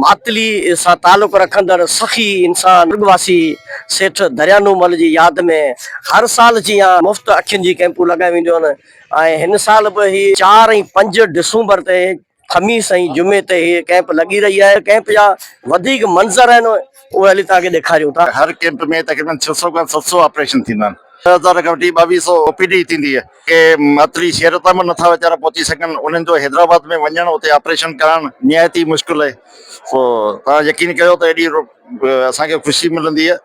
معطلي سان تعلق رکندڙ سخي انسان ڏرٻ واسي سيٺ دريانومل جي ياد ۾ هر سال جيان مفت اکين جي ڪئمپون لڳايون وينديون آهن ۽ هن سال به هي چار ۽ پنج ڊسومبر تي خميس ۽ جمعي تي هي ڪئمپ لڳي رهي آهي ڪئمپ جا وڌيڪ منظر آهن اهي هلي توهان کي ڏيکاريون ٿا. هر ڪئمپ ۾ تقريبن ڇهه سؤ کان ست سؤ آپريشن ٿيندا آهن. ڏهه هزار کان وٺي ٻاويهه سؤ او پي ڊي ٿيندي آهي. ڪي معطلي شهر تام نٿا ويچارا پهچي سگهن، انهن جو حيدرآباد ۾ وڃڻ، اتي آپريشن ڪرائڻ نهايت ئي مشڪل اهي. سو توهان يقين ڪيو ته ايڏي اسان کي خوشي ملندي اهي.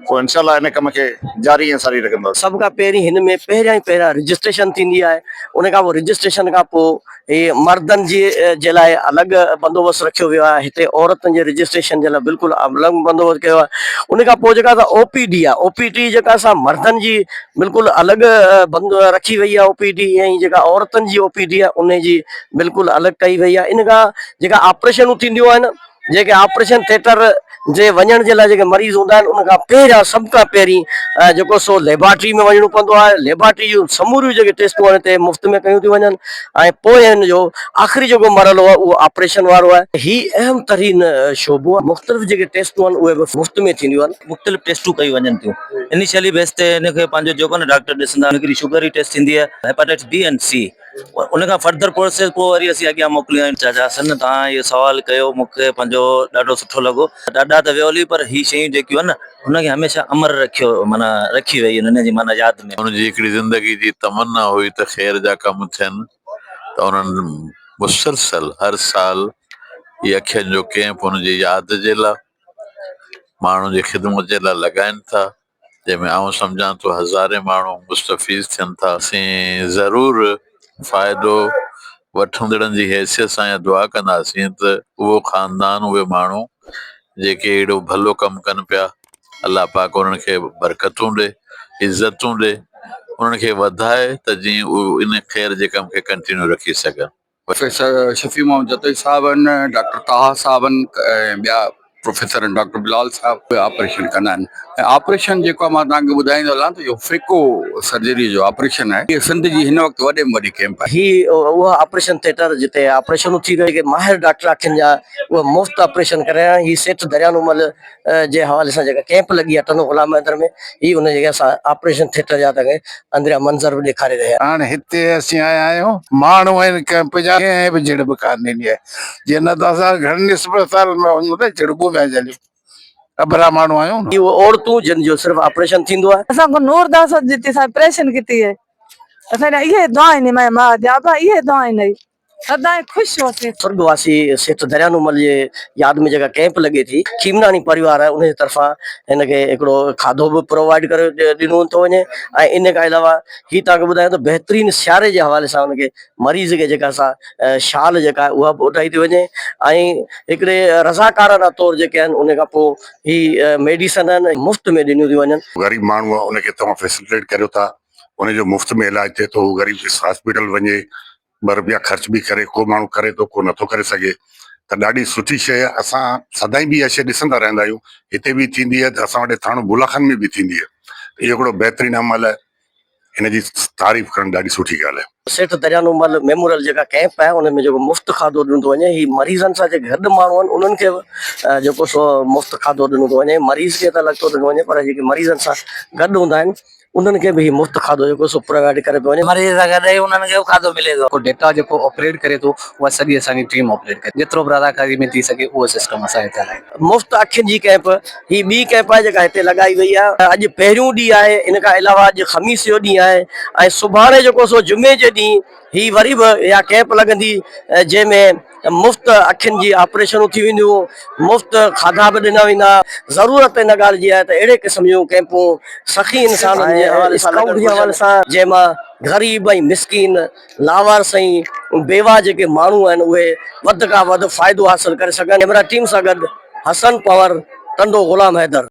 سو انشاء الله ان ڪم کي جاري ۽ ساري رکنداسين. سڀ کان پهرين هن ۾ پهريان ئي پهريان رجسٽريشن ٿيندي آهي، ان کان پوء رجسٽريشن کان پوء. هي مردن جي لاء الڳ بندوبست رکيو ويو آهي هتي عورتن جي رجسٽريشن جي لاء بلڪل الڳ بندوبست ڪيو آهي ان کان پوء جيڪا اسان او پي ڊي آهي او پي ڊي جيڪا اسان مردن جي بلڪل الڳ بند رکي وئي آهي او پي ڊي ۽ جيڪا عورتن جي او پي ڊي آهي ان جي بلڪل الڳ ڪئي وئي آهي ان کان جيڪا آپريشنون ٿينديون آهن جيڪي آپريشن ٿيٽر جي وڃڻ جي لاء جيڪي مريض هوندا آهن ان کان پهريان سڀ کان پهرين جيڪو سو ليبارٽري ۾ وڃڻو پوندو آهي ليبارٽري جون سموريون جيڪي ٽيسٽون آهن هتي مفت ۾ ڪيون ٿيون وڃن ۽ پوء هن جو آخري جيڪو مرحلو آهي اهو آپريشن وارو آهي هي اهم ترين شعبو آهي مختلف جيڪي ٽيسٽون آهن اهي به مفت ۾ ٿينديون آهن. مختلف ٽيسٽون ڪيون وڃن ٿيون انيشلي بيس تي هن کي پنهنجو جيڪو نه ڊاڪٽر ڏسندا هڪڙي شگر جي ٽيسٽ ٿيندي آهي هيپاٽائٽس بي ۽ سي ان کان فردر پروسيس پوء وري اسين اڳيان موڪليون آهن. چاچا حسن توهان اهو سوال ڪيو مون کي پنهنجو ڏاڍو سٺو لڳو. ڏاڏا ته ويو هلي پر هي شيون جيڪيون آهن هن کي هميشه امر رکيو معنيٰ رکي ويئي آهن هن جي معنيٰ ياد ۾. هن جي هڪڙي زندگي جي تمنا هئي ته خير جا ڪم ٿين ته انهن مسلسل هر سال هي اکين جو ڪيمپ هن جي ياد جي لاء ماڻهن جي خدمت جي لاء لڳائين ٿا. جنهن ۾ آئون سمجهان ٿو هزارين ماڻهو مستفيض ٿين ٿا. اسين ضرور فائدو وٺندڙن جي حيثيت سان اها دعا ڪنداسين ته اهو خاندان اهي ماڻهو جيڪي اهڙو ڀلو ڪم ڪن پيا الله پاڪ انهن کي برڪتون ڏي عزتون ڏي انهن کي وڌائي ته جيئن اهي ان خير جي ڪم کي ڪنٽينيو رکي سگهن. پروفيسر شفيع محمد جتوئي صاحب آهن، ڊاڪٽر طاها صاحب آهن ۽ ٻيا پروفيسر آهن ڊاڪٽر بلال صاحب اهي آپريشن ڪندا آهن ۽ آپريشن جيڪو مان توهان کي ٻڌائيندو هلان ته اهو فيڪو سرجري جو آپريشن آهي هي سنڌ جي هن وقت وڏي ۾ وڏي ڪئمپ آهي. هي اهو آپريشن ٿيٽر جتي آپريشنون ٿي رهيون آهن جيڪي ماهر ڊاڪٽر اکين جا اهي مفت آپريشن ڪري رهيا آهن هي سيٺ دريانو مل جي حوالي سان جيڪا ڪئمپ لڳي آهي ٽنڊو غلام حيدر ۾ هي ان جي اسان آپريشن ٿيٽر جا تنهن اندريان منظر به ڏيکاري رهيا. هاڻ هتي اسين آيا آهيون ماڻهو ان ڪئمپ جا ڪنهن به جڙ به ڪانه ڏني آهي جي نه ته اسان گهڻن اسپتالن ۾ وڃون ته جڙبون پيا جهليون اڀرا ماڻهو آهيون. هي اهي عورتون جن جو صرف آپريشن ٿيندو آهي. اسان کان نور داس جتي اسان آپريشن ڪتي آهي اسان لاء اهي دعائن اهي ماء جي ابا اهي دعائن اهي. سدائين خوش هوسين. سرڳواسي سيٺ دريانومل جي ياد ۾ جيڪا ڪئمپ لڳي ٿي چيمناڻي پريوار آهي ان جي طرفان هن کي هڪڙو کاڌو به پرووائيڊ ڪري ڏنو ٿو وڃي ۽ ان کان علاوه هي توهان کي ٻڌايان ته بهترين سياري جي حوالي سان ان کي مريض کي جيڪا سا شال جيڪا آهي اها به اوڍائي ٿي وڃي ۽ هڪڙي رضاڪارانه طور جيڪي آهن ان کان پوء هي ميڊيسن آهن مفت ۾ ڏنيون ٿيون وڃن. غريب ماڻهو آهي ان کي توهان فيسلٽيٽ ڪريو ٿا ان جو مفت ۾ علاج ٿئي ٿو هو غريب اسپتال وڃي ٻه روپيا خرچ به ڪري ڪو ماڻهو ڪري ٿو ڪو نٿو ڪري سگهي ته ڏاڍي سٺي شيء اسان سدائين به اها شيء ڏسندا رهندا آهيون هتي به ٿيندي آهي ته اسان وٽ ٿاڻو بولا خان ۾ به ٿيندي آهي ته اهو هڪڙو بهترين عمل آهي ان جي تعريف ڪرڻ ڏاڍي سٺي ڳالهه آهي. سيٺ دريانو مل ميموريل جيڪا ڪئمپ آهي ان ۾ جيڪو مفت کاڌو ڏنو ٿو وڃي هي مريضن سان جيڪي گڏ ماڻهو آهن انهن کي به جيڪو سو مفت کاڌو ڏنو ٿو وڃي مريض کي ته الڳ ٿو ڏنو وڃي پر جيڪي مريضن سان گڏ هوندا آهن انهن کي به هي مفت کاڌو جيڪو سو پرووائيڊ ڪري پيو وڃي. مريض سان گڏ ئي انهن کي به کاڌو ملي ٿو. ڪو ڊيٽا جيڪو آپريٽ ڪري ٿو اها سڄي اسان جي ٽيم آپريٽ ڪري ٿي. جيترو به رضاڪاري ۾ ٿي سگهي اهو سسٽم اسان هتي هلائي ٿا. مفت اکين جي ڪئمپ هي ٻي ڪئمپ آهي جيڪا هتي لڳائي وئي آهي. اڄ پهريون ڏينهن آهي ان کان علاوه اڄ خميس جو ڏينهن آهي ۽ سڀاڻي جيڪو سو جمعي جي ڏينهن هي وري به اها ڪئمپ لڳندي جنهن ۾ مفت اکين جي آپريشنون ٿي وينديون، مفت کاڌا به ڏنا ويندا، ضرورت ان ڳالهه جي آهي ته اهڙي قسم جون ڪئمپون سخي انسانن جي حوالي سان لڳڻ گهرجن جنهن مان غريب ۽ مسڪين، لاوارث ۽ بيواهه جيڪي ماڻهو آهن اهي وڌ کان وڌ فائدو حاصل ڪري سگهن. ڪئميرا ٽيم سان گڏ حسن پنور، ٽنڊو غلام حيدر.